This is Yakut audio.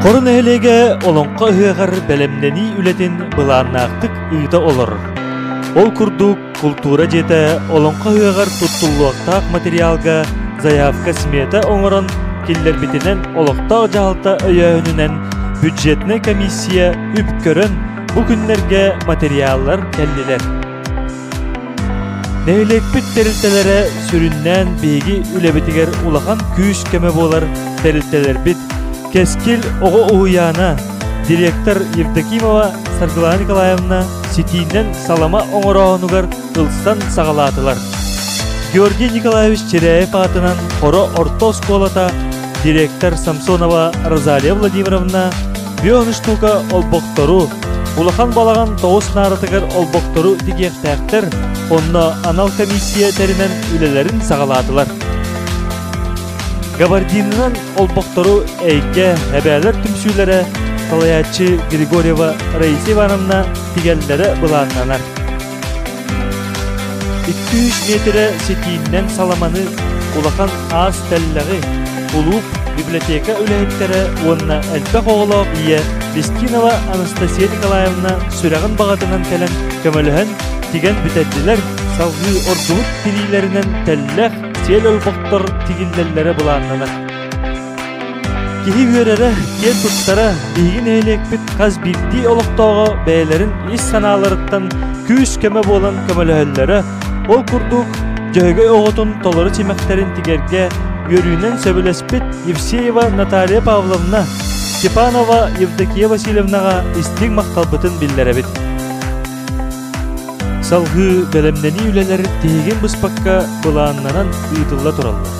Хоро нэһилиэгэ Олоҥхо ыһыаҕар бэлэмнэнии үлэтин былааннаахтык ыыта олорор. Ол курдук, култуура дьиэтэ Олоҥхо ыһыаҕар туттуллуохтаах материалга заявка-смета оҥорон киллэрбитинэн олохтоох дьаһалта өйөөһүнүнэн бюджетнай комиссия үп көрөн, бу күннэргэ материаллар кэллилэр. Нэһилиэкпит тэрилтэлэрэ сүрүннээн биһиги үлэбитигэр улахан күүс-көмө буолар тэрилтэлэрбит Кэскил оҕо уһуйаана директор Евдокимова Саргылана Николаевна ситиинэн салама оҥорооһунугар ылсан саҕалаатылар. Георгий Николаевич Чиряев аатынан Хоро орто оскуолата директор Самсонова Розалия Владимировна Бүөҥү штука олбохтору, улахан балаҕан тоҕус нааратыгар олбохтору тигиэхтээхтэр, онно анал комиссия тэринэн үлэлэрин саҕалаатылар. Габардинынан олбохтору эйгэ, эбээлэр түмсүүлэрэ салайааччы Григорьева Раиса Ивановна тигэллэрэ былааннанар. Иккис миэтирэ ситииннэн саламаны, улахан аас тэллэҕи, кулууп, библиотека үлэһиттэрэ уонна элбэх оҕолоох ийэ Кристинова Анастасия Николаевна сүрэҕин баҕатынан кэлэн көмөлөһөн, тигэн бүтэрдилэр, салгыы ордубут тириилэринэн тэллэх, сиэл олбохтор тигиллэллэрэ былааннанар. Киһи үөрэрэ, киэн туттара биһиги нэһилиэкпит хас биирдии олохтооҕо бэйэлэрин ис санааларыттан күүс-көмө буолан көмөлөһөллөрө, ол курдук Дьөһөгөй оҕотун толору симэхтэрин тигэргэ үөрүүнэн сөбүлэспит Евсеева Наталья Павловна, Степанова Евдокия Васильевнаҕа истиҥ махталбытын биллэрэбит. Салгыы бэлэмнэнии үлэлэр тиһигин быспакка былааннанан ыытылла тураллар.